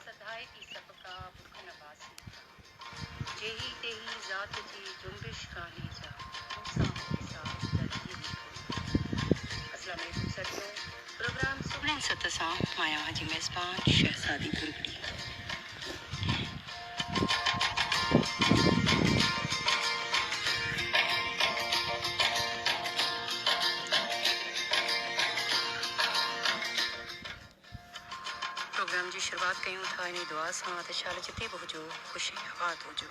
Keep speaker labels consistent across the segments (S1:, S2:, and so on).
S1: سڌائي ٿي سڀ ڪا بک نواسي جا. جيهي تيهي ذات جي جنبش ڪانهي جا. مون سان هو حساب درجي ۾ ڪونه ٿو. السلام عليڪم سرتو پروگرام سهڻي ست سان مايا جي ميزبان شهزادي ڀرڳڙي. پروگرام جي شروعات ڪيون ٿا انهي دعا سان ته شال جتي به هجو خوش ۽ آباد هجو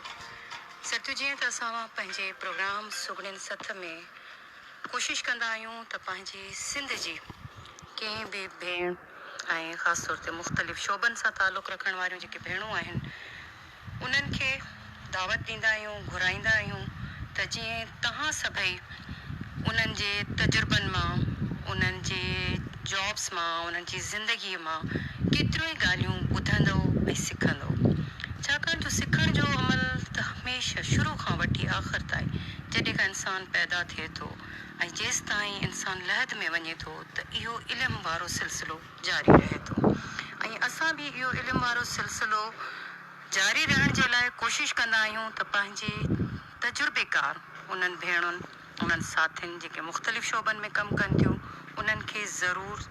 S1: سرتيو جيئن ته اسان پنهنجي پروگرام سگهڙين سٿ ۾ ڪوشش ڪندا آهيون ته پنهنجي سنڌ جي ڪنهن به ڀيڻ ۽ خاص طور تي مختلف شعبن سان تعلق رکڻ واريون جيڪي ڀيڻون آهن انهن کي دعوت ڏيندا آهيون گهرائيندا آهيون ته جيئن توهان سڀئي انهن جي تجربن مان انهن جي جابس مان انهن جي زندگي مان ڪيتريون ئي ڳالهيون ٻڌندؤ ۽ سکندؤ ڇاڪاڻ جو سکڻ جو عمل ته هميشه شروع کان وٺي آخر تائين جڏهن کان انسان پيدا ٿئي ٿو ۽ جيستائين انسان لحد ۾ وڃي ٿو ته اهو علم وارو سلسلو جاري رهي ٿو ۽ اسان به اهو علم وارو سلسلو جاري رهڻ جي لاء ڪوشش ڪندا آهيون ته پنهنجي تجربيڪار انهن ڀيڻن انهن ساٿين جيڪي مختلف شعبن ۾ ڪم ڪن ٿيون انهن کي ضرور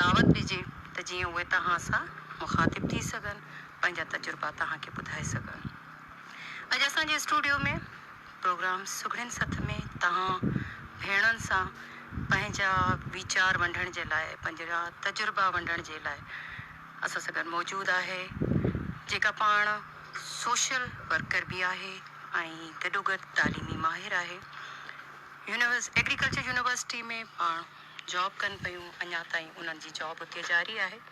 S1: دعوت ڏجي ته جيئن اهي توهان سان مخاطب ٿي سگهن پنهنجا تجربا توهان کي ٻڌائي سگهن اڄ اسان جي اسٽوڊيو ۾ پروگرام سگهڙين سٿ ۾ توهان ڀيڻن سان پنهنجا ويچار ونڊڻ جي لاء پنهنجا تجربا ونڊڻ جي لاء اسان سان گڏ موجود آهي جيڪا پاڻ سوشل ورڪر به آهي ۽ گڏوگڏ تعليمي ماهر آهي يونيورس ايگريڪلچر يونيورسٽي ۾ پاڻ جاب ڪن پيون اڃا تائين انهن جي جاب اتي جاري آهي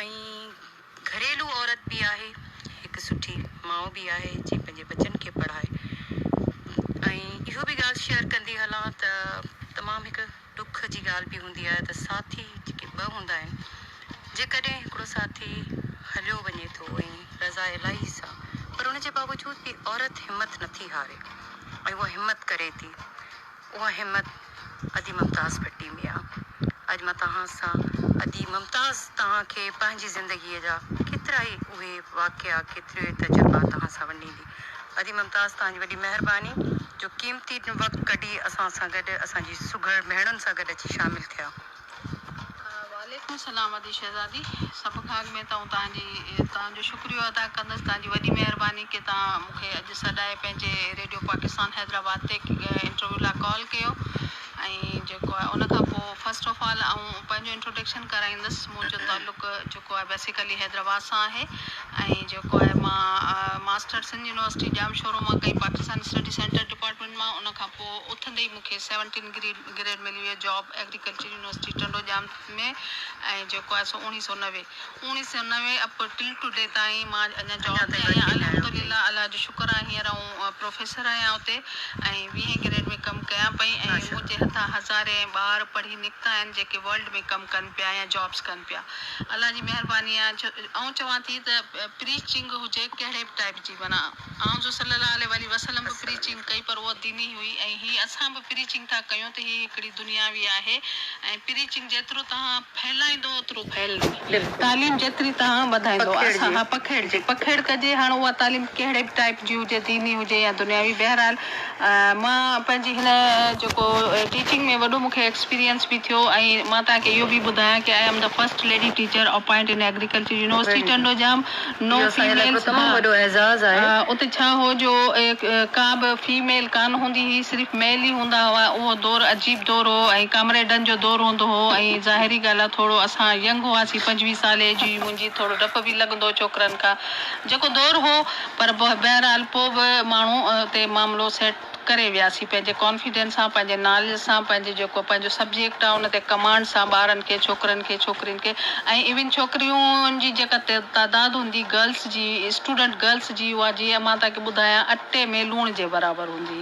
S1: ۽ گهريلو عورت به آهي، هڪ سٺي ماء به آهي جي پنهنجي ٻچن کي پڙهائي ۽ اهو به ڳالهه شيئر ڪندي هلان ته تمام هڪ ڏک جي ڳالهه به هوندي آهي ته ساٿي جيڪي ٻه هوندا آهن جيڪڏهن هڪڙو ساٿي هليو وڃي ٿو ۽ رضا الاهي سان پر ان جي باوجود به عورت همت نٿي هاري ۽ اها همت ڪري ٿي اها همت ادي ممتاز ڀٽي ۾ آ. اڄ مان توهان سان ادي ممتاز توهان کي پنهنجي زندگيء جا ڪيترائي اهي واقعا ڪيتريون ئي تجربا توهان سان ونڊيندي. ادي ممتاز توهان جي وڏي مهرباني جو قيمتي وقت ڪڍي اسان سان گڏ اسان جي سگهڙ مهڻن سان گڏ اچي شامل ٿيا.
S2: وعليڪم السلام ادي شهزادي سڀ کان اڳ ۾ ته آئون توهان جي توهان جو شڪريو ادا ڪندس توهان جي وڏي مهرباني ڪي توهان مون کي اڄ سڏائي پنهنجي ريڊيو پاڪستان حيدرآباد تي انٽرويو لاء ڪال ڪيو ۽ جيڪو آهي ان کان پوء فرسٽ آف آل آئون پنهنجو انٽروڊڪشن ڪرائيندس منهنجو تعلق جيڪو آهي بيسيڪلي حيدرآباد سان آهي ۽ جيڪو آهي مان ماسٽر سنڌ يونيورسٽي ڄامشورو مان ڪئي پاڪستان اسٽڊي سينٽر ڊپارٽمينٽ مان ان کان پوء اٿندي ئي مون کي سيونٽين گريڊ گريڊ ملي ويو job agriculture university Tando Jam ۾ ۽ جيڪو آهي سو اوڻيهه سؤ نوي اوڻيهه سؤ نوي اپ ٽل ٽو ڊي تائين مان اڃا جاب تي آهيان الحمدلله الله جو شڪر آهي هينئر آئون پروفيسر آهيان اتي ۽ ويهين گريڊ ۾ ڪم ڪيان پئي ۽ منهنجي هٿان هزارين ٻار پڙهي نڪتا آهن جيڪي ورلڊ ۾ ڪم ڪن پيا يا جابس ڪن پيا الله جي مهرباني آهي آئون چوان ٿي ته پريچنگ هجي ڪهڙي به ٽائيپ جي معنيٰ آن جو صلي الله عليه واٰله وسلم به پريچنگ ڪئي پر اها ديني هئي ۽ هي اسان به پريچنگ ٿا ڪيون ته هي هڪڙي دنياوي آهي ۽ پريچنگ جيترو توهان ڦهلائيندو اوترو ڦهلندي تعليم جيتري توهان وڌائيندو اسان پکيڙجي پکيڙ ڪجي هاڻ اها تعليم ڪهڙي به ٽائيپ جي هجي ديني هجي يا دنياوي بهرحال مان پنهنجي هن جيڪو ٽيچنگ ۾ وڏو مون کي ايڪسپيرينس به ٿيو ۽ مان توهان کي اهو به ٻڌايان ڪي I am the first lady teacher appoint in agriculture university Tando Jam no females ها اتي ڇا هو جو ڪا به فيميل ڪانه هوندي هئي صرف ميل ئي هوندا هئا اهو دور عجيب دور هو ۽ ڪامريڊن جو دور هوندو هو ۽ ظاهري ڳالهه آهي ٿورو اسان ينگ هئاسين پنجويهه سالي جي منهنجي ٿورو ڊپ به لڳندو هو ڇوڪرن کان جيڪو دور هو پر بهرحال پوء به ماڻهو اتي معاملو سيٽ ڪري وياسين پنهنجي ڪانفيڊنس سان پنهنجي ناليج سان پنهنجي جيڪو پنهنجو سبجيڪٽ آهي ان تي ڪمانڊ سان ٻارن کي ڇوڪرن کي ڇوڪرين کي ۽ ايون ڇوڪريون جي جيڪا تعداد هوندي گرلس جي اسٽوڊنٽ گرلس جي اها جي مان تهان کي ٻڌايان اٽي ۾ لوڻ جي برابر هوندي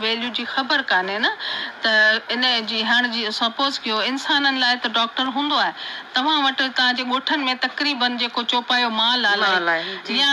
S2: ويليو جي خبر ڪانهي نه ته ان جي هڻ جي سپوز ڪيو انسانن لاء ته ڊاڪٽر هوندو آهي توهان وٽ توهان جي ڳوٺن ۾ تقريبن جيڪو چوپايو مال آهي يا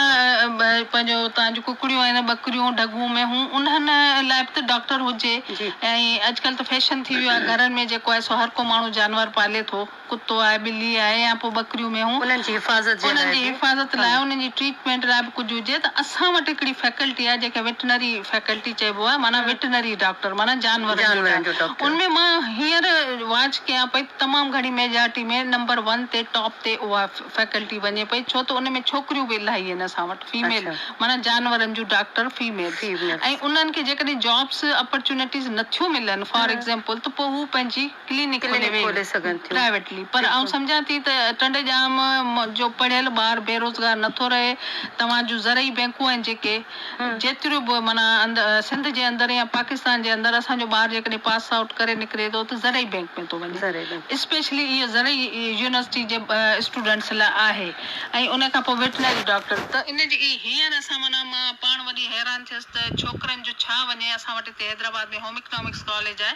S2: پنهنجو توهان جون ڪڪڙيون آهن ٻڪريون ڍڳون مينهون انهن لاء به ته ڊاڪٽر هجي ۽ اڄڪلهه ته فيشن ٿي ويو آهي گهرن ۾ جيڪو آهي سو هر ڪو ماڻهو جانور پالي ٿو. ڪتو آهي، ٻلي آهي يا پوء ٻڪريون مينهون. انهن جي حفاظت جي لاء به. انهن جي
S1: حفاظت
S2: لاء، انهن جي ٽريٽمينٽ لاء به ڪجهه هجي ته اسان وٽ هڪڙي فيڪلٽي آهي جنهن کي وٽنري فيڪلٽي چئبو آهي معنيٰ وٽنري ڊاڪٽر معنيٰ جانورن جو ڊاڪٽر. ان ۾ مان هينئر واچ ڪيان پئي ته تمام گهڻي ميجارٽي ۾ نمبر ون تي ٽاپ تي اها فيڪلٽي وڃي پئي ڇو ته ان ۾ ڇوڪريون به الائي آهن اسان وٽ فيميل معنيٰ جانورن جون ڊاڪٽر فيميلز ۽ انهن کي جيڪڏهن جابس اپرچونيٽيز نٿيون ملن فار ايگزيمپل ته پوء هو پنهنجي ڪلينڪ کولي سگهن ٿيون پرائيويٽلي پر آئون سمجهان ٿي ته ٽنڊي ڄام جو پڙهيل ٻار بيروزگار نه ٿو رهي توهان جون زرعي بينڪون آهن جيڪي جيتريون به معنيٰ سنڌ جي اندر يا پاڪستان جي اندر اسان جو ٻار جيڪڏهن پاس آئوٽ ڪري نڪري ٿو ته زرعي بينڪ ۾ ٿو وڃي اسپيشلي اهو زرعي يونيورسٽي جي اسٽوڊنٽس لاء آهي ۽ ان کان پوء ويٽنري ڊاڪٽر ته ان جي هينئر اسان معنيٰ مان پاڻ وڏي حيران ٿيس ته ڇوڪرن جو ڇا وڃي اسان وٽ هتي حيدرآباد ۾ هوم اڪنامڪس ڪاليج آهي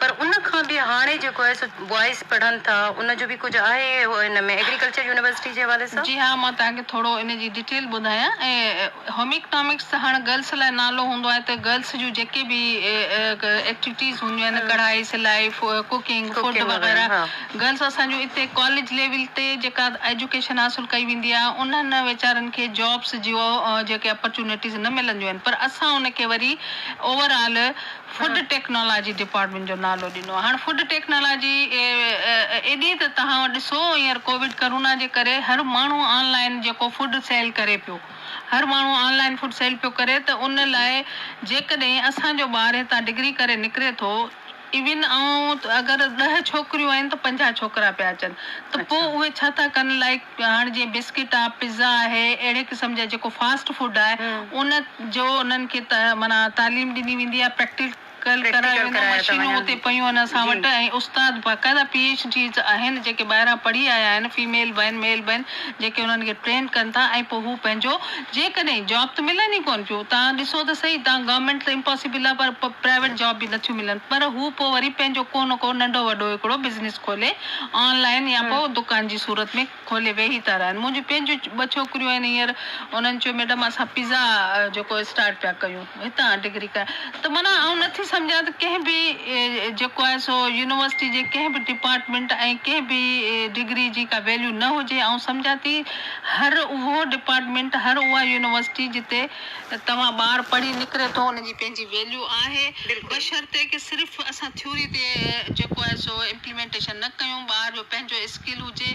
S2: پر ان کان به هاڻي جيڪو آهي سو بوائز پڙهن ٿا ان جو به ڪجهه آهي ان ۾ ايگريڪلچر يونيورسٽي جي حوالي سان؟ جي ها مان توهان کي ٿورو ان جي ڊيٽيل ٻڌايان هوم اڪنامڪس ته هاڻ گرلس لاء نالو هوندو آهي ته گرلس جون جيڪي به ايڪٽيوٽيز هونديون آهن ڪڙهائي سلائي ڪوڪنگ فوڊ وغيره گرلس اسان جون اتي ڪاليج ليول تي جيڪا ايجوڪيشن حاصل ڪئي ويندي آهي انهن ويچارن کي جابس جيو جيڪي اپرچونيٽيز نه ملنديون آهن پر اسان ان کي وري overall food technology department جو نالو ڏنو. هاڻ فوڊ ٽيڪنالاجي ايڏي ته توهان ڏسو هينئر ڪووڊ ڪرونا جي ڪري هر ماڻهو آن لائن جيڪو فوڊ سيل ڪري پيو هر ماڻهو آن لائن فوڊ سيل پيو ڪري ته ان لاء جيڪڏهن اسان جو ٻار هتان ڊگري ڪري نڪري ٿو ايون آئون اگر ڏهه ڇوڪريون آهن ته پنجاهه ڇوڪرا پيا اچن ته پوء اهي ڇا ٿا ڪن لائڪ هاڻ جيئن بسڪٽ آ، پزا آهي، اهڙي قسم جا جيڪو فاسٽ فوڊ آهي ان جو انهن کي معنيٰ تعليم ڏني ويندي آهي، پريڪٽيڪل ڪرايو ويندو آهي، مشينون اتي پيون آهن اسان وٽ ۽ استاد باقاعده پي ايڇ ڊيز آهن جيڪي ٻاهران پڙهي آيا آهن فيميل به آهن ميل به آهن جيڪي انهن کي ٽرين ڪن ٿا ۽ پوء هو پنهنجو جيڪڏهن جاب ته ملن ئي ڪونه پيون تان ڏسو ته سهي تان گورنمينٽ ته امپاسبل آ پر پرائيويٽ جاب به نٿيون ملن پر هو پوء وري پنهنجو ڪو نه ڪو ننڍو وڏو هڪڙو بزنس کولي آن لائين يا پوء دڪان جي صورت ۾ کولي ويهي ٿا رهن. منهنجون پنهنجون ٻه ڇوڪريون آهن هينئر. انهن چيو ميڊم اسان پزا جيڪو اسٽارٽ پيا ڪيون هتان ڊگري ڪرڻ ته معنيٰ آئون نٿي سمجهان ته ڪنهن به جيڪو آهي سو يونيورسٽي جي ڪنهن به ڊپارٽمينٽ ۽ ڪنهن به ڊگري جي ڪا ويليو نه هجي آئون سمجهان ٿي هر اهو ڊپارٽمينٽ هر اها يونيورسٽي جتي توهان ٻار پڙهي نڪري ٿو ان جي پنهنجي ويليو آهي بشرطيڪ صرف اسان ٿيوري تي جيڪو آهي سو امپليمينٽيشن نه ڪيون ٻار جو پنهنجو اسڪل هجي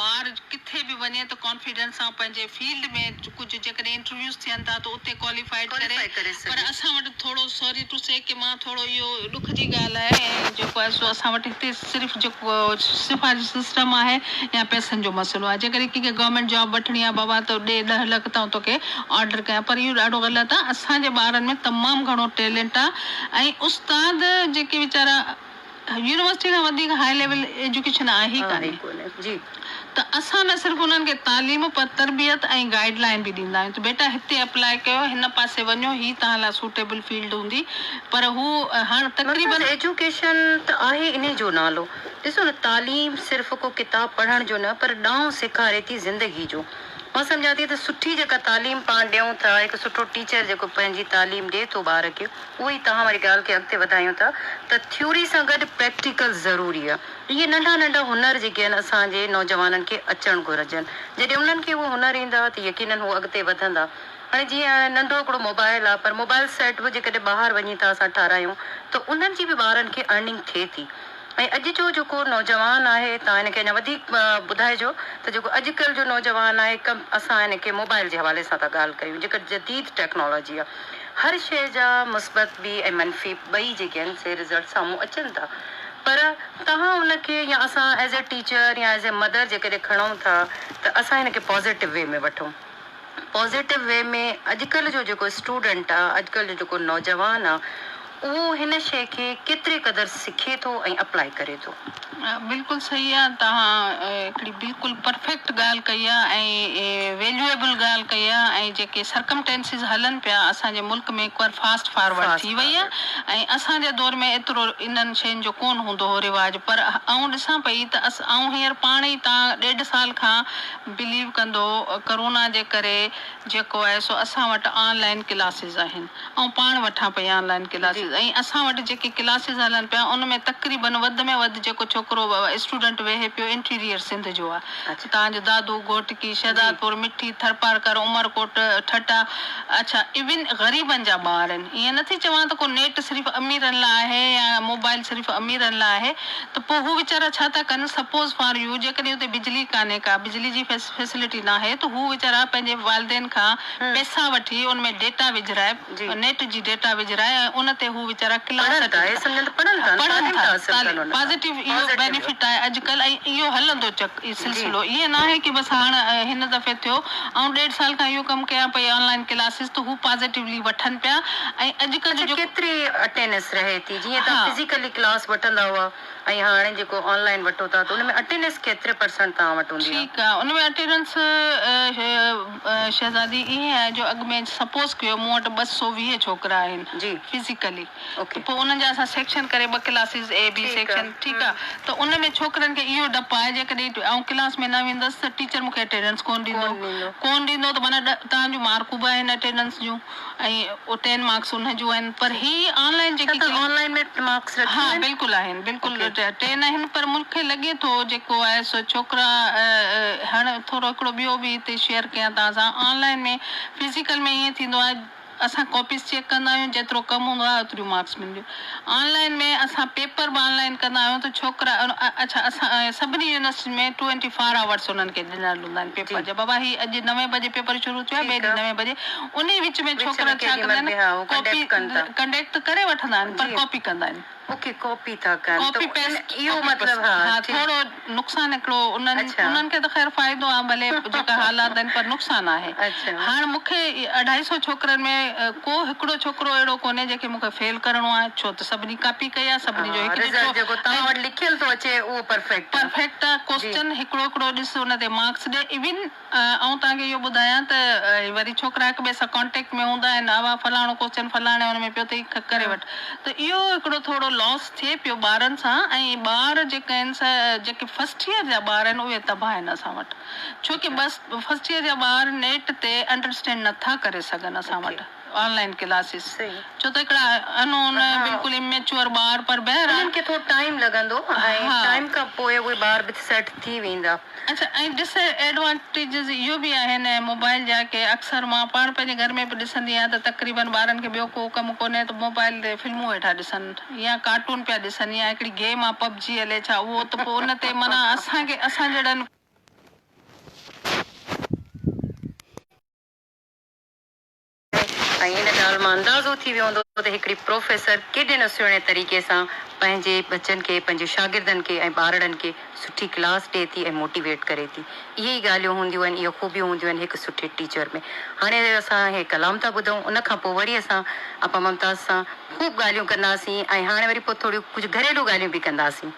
S2: ٻار ڪٿي به وڃي ته ڪانفيڊنس سان پنهنجي فيلڊ ۾ ڪجهه جيڪڏهن انٽرويوز ٿين ٿا ته اتي ڪواليفائيڊ ڪري پر اسان وٽ ٿورو سوري ٽو سي ڪي مان ٿورو اهو ڏک جي ڳالهه آهي ۽ جيڪو آهي سو اسان وٽ هتي صرف جيڪو سفارشي سسٽم آهي يا پئسن جو مسئلو آهي جيڪڏهن ڪنهن کي گورنمينٽ جاب وٺڻي آهي بابا تو ڏي ڏهه لک تائون توکي آرڊر ڪيان پر اهو ڏاڍو غلط آهي اسان جي ٻارن ۾ تمام گهڻو ٽيلنٽ آهي ۽ استاد جيڪي ويچارا يونيورسٽي کان وڌيڪ هاء ليول ايجوڪيشن آهي ئي ڪانهي. ته اسان نه صرف انهن کي تعليم پر تربيت ۽ گائيڊ لائين به ڏيندا آهيون ته بيٽا هتي اپلاء ڪيو هن پاسي وڃو هي توهان لاء سوٽيبل فيلڊ هوندي پر هو هاڻ تقريبن. مرڪز ايجوڪيشن ته آهي انهي جو نالو ڏسو نه تعليم صرف ڪو ڪتاب پڙهڻ جو نه پر ڏانء سيکاري ٿي زندگي جو مان سمجهان ٿي ته سٺي جيڪا تعليم پاڻ ڏيون ٿا هڪ سٺو ٽيچر جيڪو پنهنجي تعليم ڏي ٿو ٻار کي اهو ئي توهان واري ڳالهه کي اڳتي وڌايون ٿا ته ٿيوري سان گڏ پريڪٽيڪل ضروري آهي اهي ننڍا ننڍا هنر جي گين اسان جي نوجوانن کي اچڻ گهرجن. جڏهن انهن کي اهي هنر ايندا ته يقينن هو اڳتي وڌندا. هاڻي جيئن هاڻي ننڍو هڪڙو موبائل آ پر موبائل سيٽ به جيڪڏهن ٻاهر وڃي ٿا اسان ٺارايون ته انهن جي به ٻارن کي ارننگ ٿئي ٿي ۽
S1: اڄ جو جيڪو نوجوان آهي توهان هن کي اڃا وڌيڪ ٻڌائجو ته جيڪو اڄڪلهه جو نوجوان آهي ڪم اسان هن کي موبائل جي حوالي سان ٿا ڳالهه ڪيون جيڪا جديد ٽيڪنالاجي آ. هر شيء جا مثبت به ۽ منفي ٻئي جيڪي آهن سي رزلٽ سامهون اچن ٿا پر توهان ان کي يا اسان ايز اي ٽيچر يا ايز اي مدر جيڪڏهن کڻون ٿا ته اسان ان کي پازيٽو وي ۾ وٺون پازيٽو وي ۾ اڄڪلهه جو جيڪو اسٽوڊنٽ آ اڄڪلهه جو جيڪو نوجوان آ اهو هن شيء کي ڪيتري قدر سکي ٿو ۽ اپلائي ڪري ٿو. بلڪل صحيح
S2: آ توهان هڪڙي بلڪل پرفيڪٽ ڳالهه ڪئي آ ۽ ويليوئبل ڳالهه ڪئي آ ۽ جيڪي سرڪمٽينسز هلن پيا اسان جي ملڪ ۾ هڪ بار فاسٽ فارورڊ ٿي وئي آ ۽ اسان جي دور ۾ ايترو انهن شين جو ڪون هوندو هو رواج پر آئون ڏسان پئي ته آئون هينئر پاڻ ئي تان ڏيڍ سال کان بليو ڪندو ڪرونا جي ڪري جيڪو آهي سو اسان وٽ آن لائين ڪلاسز آهن آئون پاڻ وٺان پئي آن لائين ڪلاسز ۽ اسان وٽ جيڪي ڪلاسز هلن پيا ان ۾ تقريبن وڌ ۾ وڌ جيڪو ڇوڪرو اسٽوڊنٽ ويهي پيو انٽيريئر سنڌ جو آهي تان جو دادو، گهوٽڪي، شهدادپور، مٺي، ٿرپارڪر، عمرڪوٽ، ٺٽا اڇا ايون غريبن جا ٻار آهن ائين نه ٿي چوان ته ڪو نيٽ صرف اميرن لاء آهي يا موبائل صرف اميرن لاء آهي ته پوء هو ويچارا ڇا ٿا ڪن سپوز فار يو جيڪڏهن اتي بجلي ڪانهي ڪا بجلي جي فيسلٽي ناهي ته هو ويچارا پنهنجي والدين کان پئسا وٺي ان ۾ ڊيٽا وجهرائي نيٽ جي ڊيٽا وجهرائي ۽ ان تي هو ويچارا ڪلاس پڙهن ٿا تعليم پازيٽو اهو بينيفٽ آهي اڄڪلهه ۽ اهو هلندو چڪ سلسلو ائين ناهي ڪي بس هاڻ هن دفعي ٿيو آئون ڏيڍ سال کان اهو ڪم ڪيان پئي آن لائين ڪلاسز ته هو پازيٽولي وٺن پيا ۽ اڄڪلهه جو ڪيتري اٽينس رهي ٿي جيئن تهان فزيڪلي ڪلاس وٺندا هئا. ۽ هاڻي جيڪو آن لائين وٺو ٿا ته ان ۾ اٽينس ڪيتري پرسنٽ توهان وٽ هوندي آهي؟ ٺيڪ آهي ان ۾ اٽينس شهزادي ائين آهي جو اڳ ۾ سپوز ڪيو مون وٽ ٻه سؤ ويهه ڇوڪرا آهن فزيڪلي ته پوء انهن جا اسان سيڪشن ڪري ٻه ڪلاسز اي بي سيڪشن ٺيڪ آهي ته ان ۾ ڇوڪرن کي اهو ڊپ آهي جيڪڏهن آئون ڪلاس ۾ نه ويندس ته ٽيچر مون کي اٽينس ڪونه ڏيندو ڪونه ڏيندو ته معنيٰ ڏهه تنهنجون مارڪون به آهن اٽينس جون ۽ او ٽين مارڪس انهن جون آهن پر هي آن لائين جيڪي ڪليڪ. اتان آن لائين ۾ ٽين مارڪس رکيون آهن. ها بلڪل آهن بلڪل ٽين آهن پر مون کي لڳي ٿو جيڪو آهي سو ڇوڪرا هاڻ ٿورو هڪڙو ٻيو به هتي شيئر ڪيان توهان سان آن لائين ۾ فزيڪل ۾ ائين ٿيندو آهي اسان ڪاپيز چيڪ ڪندا آهيون جيترو ڪم هوندو آهي اوتريون مارڪس ملنديون. آن لائين ۾ اسان پيپر به آن لائين ڪندا آهيون ته ڇوڪرا اڇا اسان ۽ سڀني يونيورسٽين ۾ ٽوئنٽي فار آورس انهن کي ڏنل هوندا آهن پيپر جا بابا هي اڄ نوين بجي پيپر شروع ٿيو آهي ٻئي ڏينهن نوين بجي انهي وچ ۾ ڇوڪرا ڇا ڪندا آهن ڪاپي ڪنڊيڪ ته ڪري وٺندا آهن پر ڪاپي ڪندا آهن ڪاپي پيسٽ ها ٿورو نقصان هڪڙو انهن کي ته خير فائدو آهي ڀلي جيڪا حالات آهن پر نقصان آهي هاڻ مون کي اڍائي سئو ڇوڪرن ۾ ڪو هڪڙو ڇوڪرو اهڙو ڪونهي جنهن کي مون کي فيل ڪرڻو آهي ڇو ته سڀني ڪاپي ڪئي آهي سڀني جو هڪ رزلٽ جيڪو توهان وٽ لکيل ٿو اچي اهو پرفيڪٽ آهي پرفيڪٽ آهي ڪوسچن هڪڙو هڪڙو ڏس ان تي مارڪس ڏي ايون آئون توهان کي اهو ٻڌايان ته وري ڇوڪرا هڪ ٻئي سان ڪانٽيڪٽ ۾ هوندا آهن اها فلاڻو ڪوسچن فلاڻي ان ۾ پيو اٿئي ڪري وٺ ته اهو هڪڙو ٿورو لاس ٿئي پيو ٻارن سان ۽ ٻار جيڪا آهن سا جيڪي فرسٽ ايئر جا ٻار آهن اهي تباهه آهن اسان وٽ ڇوڪه فرسٽ ايئر جا ٻار نيٽ تي انڊرسٽينڊ نٿا ڪري سگهن اسان وٽ. آن لائين ڪلاسز ڇو ته هڪڙا ان اون بلڪل اميچوئر ٻار پر بهرحال انهن کي ٿورو ٽائيم لڳندو ۽ ٽائيم کان پوء اهي ٻار به سيٽ ٿي ويندا. اڇا ۽ ڊس ايڊوانٽيجز اهو به آهن موبائل جا ڪي اڪثر مان پاڻ پنهنجي گهر ۾ به ڏسندي آهيان ته تقريبن ٻارن کي ٻيو ڪو ڪم ڪونهي ته موبائل تي فلمون ويٺا ڏسن يا ڪارٽون پيا ڏسن يا هڪڙي گيم آ پب جي هلي ڇا اهو ته پوء ان تي معنيٰ اسان کي اسان جهڙن ۽ ان ڳالهه مان اندازو ٿي ويو هوندو ته هڪڙي پروفيسر ڪيڏي نه سهڻي طريقي سان پنهنجي ٻچن کي، پنهنجي شاگردن کي ۽ ٻارڙن کي سٺي ڪلاس ڏئي ٿي ۽ موٽيويٽ ڪري ٿي. اهي ئي ڳالهيون هونديون آهن، اهي خوبيون هونديون آهن هڪ سٺي ٽيچر ۾. هاڻي اسان هي ڪلام ٿا ٻڌون، ان کان پوء وري اسان آپا ممتاز سان خوب ڳالهيون ڪنداسين ۽ هاڻي وري پوء ٿوريون ڪجهه گهريلو ڳالهيون به ڪنداسين.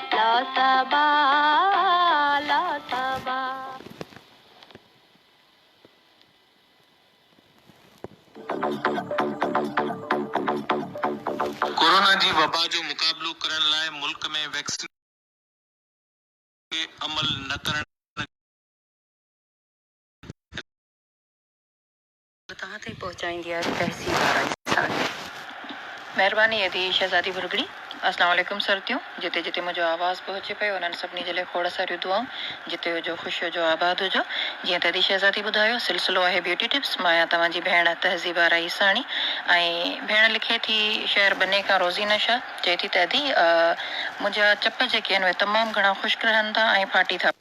S1: لا صبا لا
S3: صبا. ڪورونا جي وبا جو مقابلو ڪرڻ لاء ملڪ ۾ ويڪسينيشن تي عمل نه ڪرڻ جي رٿا اختيار ڪئي آهي.
S1: توهان تائين پهچائيندي آهي تهذيب وارا
S4: انسان. مهرباني ادي شهزادي ڀرڳڙي. اسلام عليڪم سرتيون جتي جتي منهنجو آواز پهچي پيو انهن سڀني جي لاء کوڙ ساريون دعائون جتي هجو خوش هجو آباد هجو جيئن ته ادي شهزادي ٻڌايو سلسلو آهي بيوٽي ٽپس مان آهيان توهان جي ڀيڻ تهذيب آرا عيساڻي ۽ ڀيڻ لکي ٿي شهر بني کان روزينه شاهه چئي ٿي ته ادي منهنجا چپ جيڪي آهن اهي تمام گهڻا خشڪ رهن ٿا ۽ ڦاٽي ٿا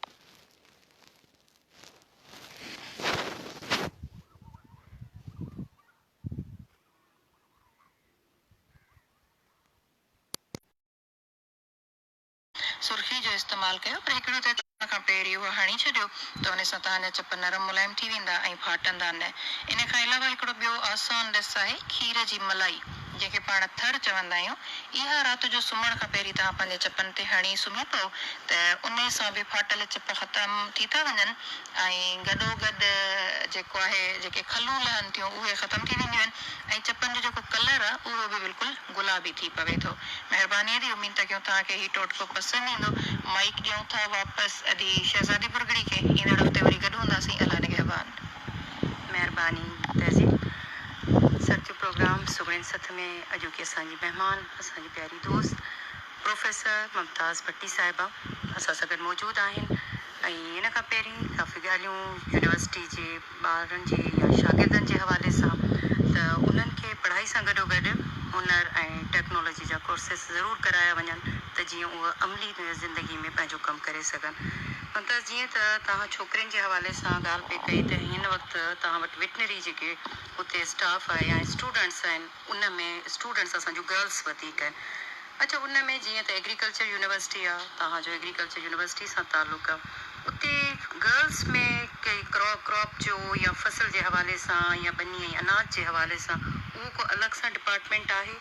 S4: سرخي جو استعمال ڪيو پر هڪڙي رت ڪرڻ کان پهرين اهو هڻي ڇڏيو ته ان سان توهان جا چپ نرم ملائم ٿي ويندا ۽ ڦاٽندا نه. ان کان علاوه هڪڙو ٻيو آسان ڏس آهي کير جي ملائي. جنهن کي پاڻ ٿر چوندا آهيون، اها رات جو سمهڻ کان پهرين توهان پنهنجي چپن تي هڻي سمهي پئو ته انهي سان به ڦاٽل چپ ختم ٿي ٿا وڃن ۽ گڏوگڏ جيڪو آهي جيڪي کلون لهن ٿيون اهي ختم ٿي وينديون آهن ۽ چپن جو جيڪو ڪلر آهي اهو به بلڪل گلابي ٿي پوي ٿو. مهرباني ادي اميد ٿا ڪيون توهان کي هي ٽوٽڪو پسند ايندو. مائيڪ ڏيون ٿا واپس ادي شهزادي پرڳڙي کي ايندڙ هفتي وري گڏ هونداسين الله نگهبان. مهرباني
S1: تهذيب سر جو پروگرام سگهڙين سٿ ۾ اڄوڪي اسان جي مهمان اسان جي پياري دوست پروفيسر ممتاز ڀٽي صاحبه اسان سان گڏ موجود آهن ۽ ان کان پهرين ڪافي ڳالهيون يونيورسٽي جي ٻارن جي يا شاگردن جي حوالي سان ته انهن کي پڙهائي سان گڏو گڏ هنر ۽ ٽيڪنالاجي جا ڪورسز ضرور ڪرايا وڃن ته جيئن اهي عملي زندگي ۾ پنهنجو ڪم ڪري سگهن سندس جيئن ته توهان ڇوڪرين جي حوالي سان ڳالهه پئي ڪئي ته هن وقت توهان وٽ وٽنري جيڪي اتي اسٽاف آهي يا اسٽوڊنٽس آهن ان ۾ اسٽوڊنٽس اسان جون گرلس وڌيڪ آهن اڇا ان ۾ جيئن ته ايگريڪلچر يونيورسٽي آهي توهان جو ايگريڪلچر يونيورسٽي سان تعلق آهي اتي گرلس ۾ ڪئي ڪراپ ڪراپ جو يا فصل جي حوالي سان يا ٻني ۽ اناج جي حوالي سان اهو ڪو الڳ سان ڊپارٽمينٽ آهي.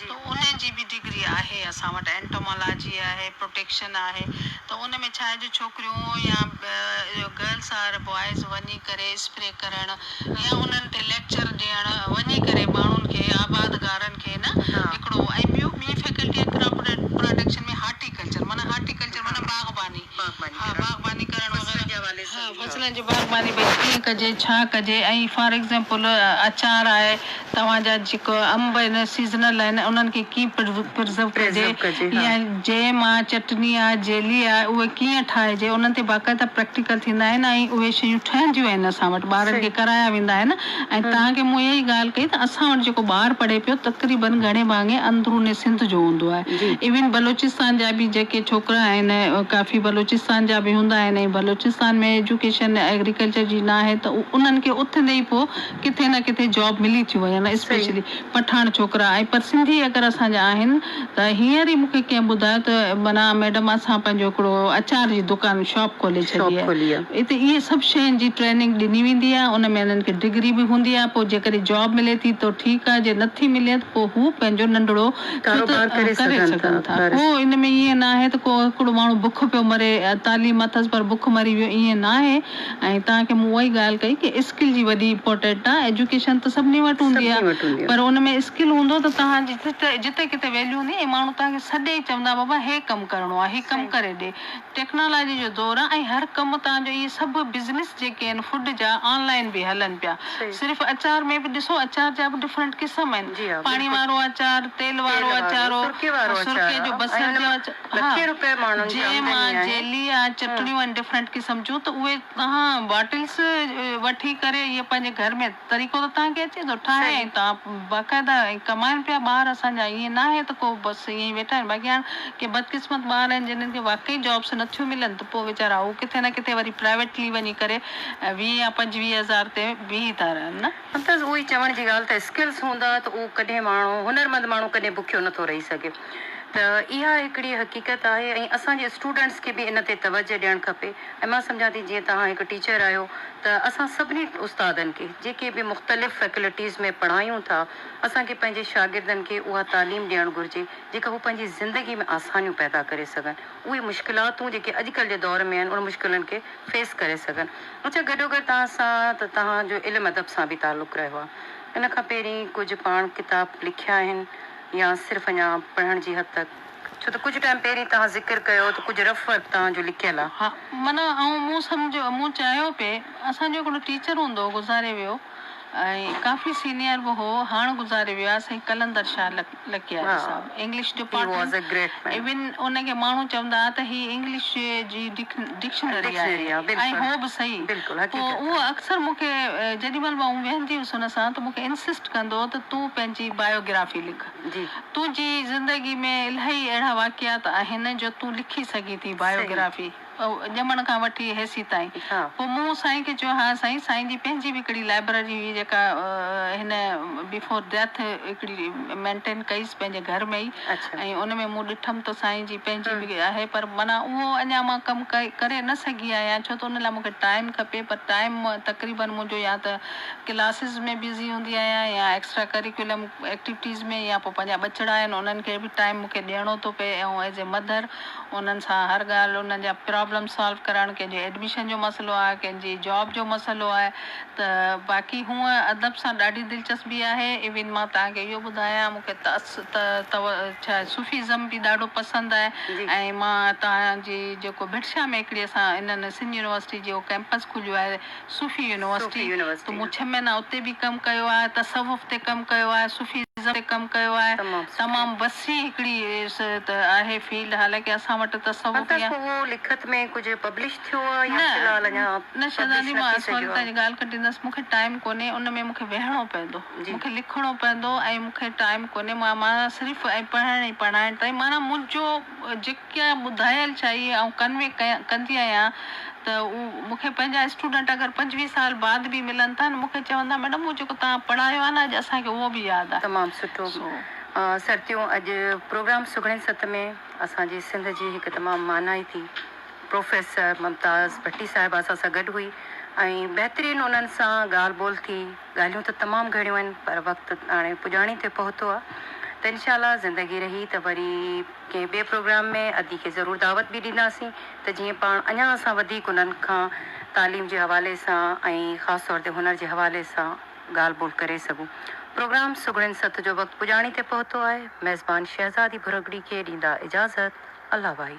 S2: ته ان جي
S1: به ڊگري
S2: آهي اسان وٽ اينٽومالاجي آهي پروٽيڪشن آهي ته ان ۾ ڇا آهي جو ڇوڪريون يا گرلس آر بوائز وڃي ڪري اسپري ڪرڻ يا انهن تي ليڪچر ڏيڻ وڃي ڪري ماڻهن کي آباد گارن کي نه هڪڙو ۽ ٻيو
S1: ٻي
S2: فيڪلٽي آهي ڪراپ پراڊڪشن ۾ هارٽي ڪلچر معنيٰ هارٽي ڪلچر معنيٰ باغباني ها باغباني ڪرڻ وغيره
S1: فصلن
S2: جي
S1: باغباني ڀئي
S2: ڪيئن ڪجي ڇا ڪجي ۽ فار ايگزامپل اچار آهي توهان جا جيڪو انب آهن سيزنل آهن انهن کي ڪيئن پرزرو ڪجي يا
S1: جيم آهي
S2: چٽني آهي جيلي آهي اهي ڪيئن ٺاهجي انهن تي باقاعده پريڪٽيڪل ٿيندا آهن ۽ اهي شيون ٺهنديون آهن اسان وٽ ٻارن کي ڪرايا ويندا آهن ۽ توهان کي مون اها ئي ڳالهه ڪئي ته اسان وٽ جيڪو ٻار پڙهي پيو تقريبن گهڻي ڀاڱي اندروني سنڌ جو هوندو آهي ايون بلوچستان جا به جيڪي ڇوڪرا آهن ڪافي بلوچستان جا به هوندا آهن ۽ بلوچستان ۾ ايجوڪيشن ايگريڪلچر جي ناهي ته انهن کي اٿندي ئي پوء ڪٿي نه ڪٿي جاب ملي ٿيون وڃن اسپيشلي پٺاڻ ڇوڪرا ۽ پر سنڌي اگر اسان جا آهن ته هينئر ئي مون کي ڪنهن ٻڌايو ته منا ميڊم اسان پنهنجو هڪڙو اچار جي دڪان شاپ کولي ڇڏي آهي اتي اهي سڀ شين جي ٽريننگ ڏني ويندي آهي ان ۾ انهن کي ڊگري به هوندي آهي پوء جيڪڏهن جاب ملي ٿي ته ٺيڪ آهي جي نٿي ملي ته پوء هو پنهنجو ننڍڙو ڪاروبار ڪري
S1: سگهن ٿا ڪو ان ۾ ائين
S2: ناهي ته ڪو هڪڙو ماڻهو بک پيو مري تعليم اٿس پر بک مري ويو ائين ناهي. ۽ توهان کي مون اها ئي ڳالهه ڪئي ڪي اسڪل جي وڏي امپورٽيٽ آ ايجوڪيشن ته سڀني وٽ هوندي آ پر ان ۾ اسڪل هوندو ته توهان جي جتي ڪٿي ويليو هوندي ۽ ماڻهو توهان کي سڏي ئي چوندا بابا هي ڪم ڪرڻو آ هي ڪم ڪري ڏي ٽيڪنالاجي جو دور آ ۽ هر ڪم توهان جو اهي سڀ بزنس جيڪي آهن فوڊ جا آن لائين به هلن پيا صرف اچار ۾ به ڏسو اچار جا به ڊفرنٽ قسم آهن پاڻي وارو اچار تيل وارو اچار سرڪي جو بصر جو اچار. ها جنهن مان جيلي يا چٽڻيون ۽ ڊفرنٽ قسم جون ته اهي توهان باٽلس وٺي ڪري اهي پنهنجي گهر ۾ طريقو ته توهان کي اچي ٿو ٺاهي ۽ توهان باقاعده ۽ ڪمائن پيا ٻار اسان جا ائين ناهي ته ڪو بس ائين ئي ويٺا آهن باقي هاڻ ڪي بدقسمت ٻار آهن جنهن کي واقعي جابس نه ٿيون ملن ته پوء ويچارا هو ڪٿي نه ڪٿي وري پرائيويٽلي وڃي ڪري ويهه يا پنجويهه هزار تي بيهي ٿا رهن نه سندس اهو ئي چوڻ جي
S1: ڳالهه ته اسڪلز هوندا ته اهو ڪڏهن ماڻهو هنرمند ماڻهو ڪڏهن بکيو نٿو رهي سگهي ته اها هڪڙي حقيقت آهي ۽ اسان جي اسٽوڊنٽس کي به ان تي توجهه ڏيڻ کپي ۽ مان سمجهان ٿي جيئن توهان هڪ ٽيچر آهيو ته اسان سڀني استادن کي جيڪي به مختلف فيڪلٽيز ۾ پڙهايون ٿا اسان کي پنهنجي شاگردن کي اها تعليم ڏيڻ گهرجي جيڪا هو پنهنجي زندگي ۾ آسانيون پيدا ڪري سگهن. اهي مشڪلاتون جيڪي اڄڪلهه جي دور ۾ آهن ان مشڪلن کي فيس ڪري سگهن. اچا گڏوگڏ توهان سان ته توهان جو علم ادب سان به تعلق رهيو آهي. ان کان پهرين ڪجهه پاڻ ڪتاب لکيا آهن يا صرف اڃا پڙهڻ جي حد تڪ؟ ڇو ته ڪجهه ٽائيم پهرين توهان ذڪر ڪيو ته ڪجهه رف ورڪ توهان جو لڪيل آهي. ها معنيٰ آئون
S2: مون سمجهيو مون چاهيو پئي اسان جو هڪڙو ٽيچر هوندو هو گذاري ويو. ۽ ڪافي سينيئر به هو، هاڻ گذاري ويو آهي سائين قلندر Shah Lakyari Sahib English department even ان کي ماڻهو چوندا ها ته هي انگلش جي ڊڪشنري آهي ۽ هو به صحيح پوء اهو اڪثر مون کي جيڏي مهل به آئون ويهندي هيس ان سان ته مون کي انسسٽ ڪندو هو ته تون پنهنجي بايو گرافي لک تنهنجي زندگي ۾ الاهي اهڙا واقعات آهن جو تون لکي سگهين ٿي بايو گرافي. ڄمڻ کان وٺي هيسي تائين. پوء مون سائين کي چيو، ها سائين، سائين جي پنهنجي به هڪڙي لائبرري هئي جيڪا هن بيفور ڊيٿ هڪڙي مينٽين ڪئيس پنهنجي گهر ۾ ئي ۽ ان ۾ مون ڏٺم ته سائين جي پنهنجي به آهي پر معنيٰ اهو اڃا مان ڪم ڪري نه سگهي آهيان ڇو ته ان لاء مون کي ٽائيم کپي پر ٽائيم تقريبن منهنجو يا ته ڪلاسز ۾ بزي هوندي آهيان يا ايڪسٽرا ڪريڪولم ايڪٽيوٽيز ۾ يا پوء پنهنجا ٻچڙا آهن انهن کي به ٽائيم مون کي ڏيڻو ٿو پئي ۽ ايز اي مڌر انهن سان هر ڳالهه انهن جا پرابلم سالو ڪرڻ ڪنهن جي ايڊميشن جو مسئلو آهي ڪنهن جي جاب جو مسئلو آهي ته باقي هونء ادب سان ڏاڍي دلچسپي آهي ايون مان توهان کي اهو ٻڌايان مون کي ته صوفيزم به ڏاڍو پسند آهي ۽ مان توهان جي جيڪو ڀٽ شاهه ميڪڙي سان انهن سنڌ يونيورسٽي جو ڪيمپس کليو آهي صوفي يونيورسٽي، تون مون ڇهه مهينا اتي به ڪم ڪيو آهي، تصوف تي ڪم ڪيو آهي، صوفي ازم تي ڪم ڪيو آهي، تمام وسيع
S1: هڪڙي
S2: آهي فيلڊ، حالانڪه اسان وٽ تصوف يا. هاڻ تائين اهو لکت ۾ ڪجهه پبلش ٿيو آهي يا في
S1: الحال اڃا پبلش نه ٿي سگهيو آهي؟ نه شهزادي مان
S2: اسان وٽ تنهنجي ڳالهه
S1: ڪٽيندس،
S2: مون کي ٽائيم ڪونهي، ان ۾ مون کي ويهڻو پوندو، مون کي لکڻو
S1: پوندو
S2: ۽ مون کي ٽائيم ڪونهي، مان صرف ۽ پڙهڻ ۽ پڙهائڻ تائين، معنيٰ منهنجو جيڪو. ڪي ٻڌايل چئي آئون ڪنوي ڪندي آهيان ته اهو مون کي پنهنجا اسٽوڊنٽ اگر پنجويهه سال بعد به ملن ٿا نه مون کي چوندا ميڊم اهو جيڪو توهان پڙهايو آهي نه اڄ اسان کي اهو به ياد آهي تمام سٺو
S1: سرتيون اڄ پروگرام سگهڙين ست ۾ اسان جي سنڌ جي هڪ تمام مانائتي پروفيسر ممتاز ڀٽي صاحبه اسان سان گڏ هئي ۽ بهترين انهن سان ڳالهه ٻولهه ٿي ڳالهيون ته تمام گهڻيون آهن پر وقت هاڻي پڄاڻي تي پهتو آ ته انشاء الله زندگي رهي ته وري ڪنهن ٻئي پروگرام ۾ ادي کي ضرور دعوت به ڏينداسين ته جيئن پاڻ اڃان اسان وڌيڪ انهن کان تعليم جي حوالي سان ۽ خاص طور تي هنر جي حوالي سان ڳالهه ٻولهه ڪري سگهون پروگرام سگهڙين ست جو وقت پڄاڻي تي پهتو آهي ميزبان شهزادي ڀرڳڙي کي ڏيندا اجازت الله ڀائي.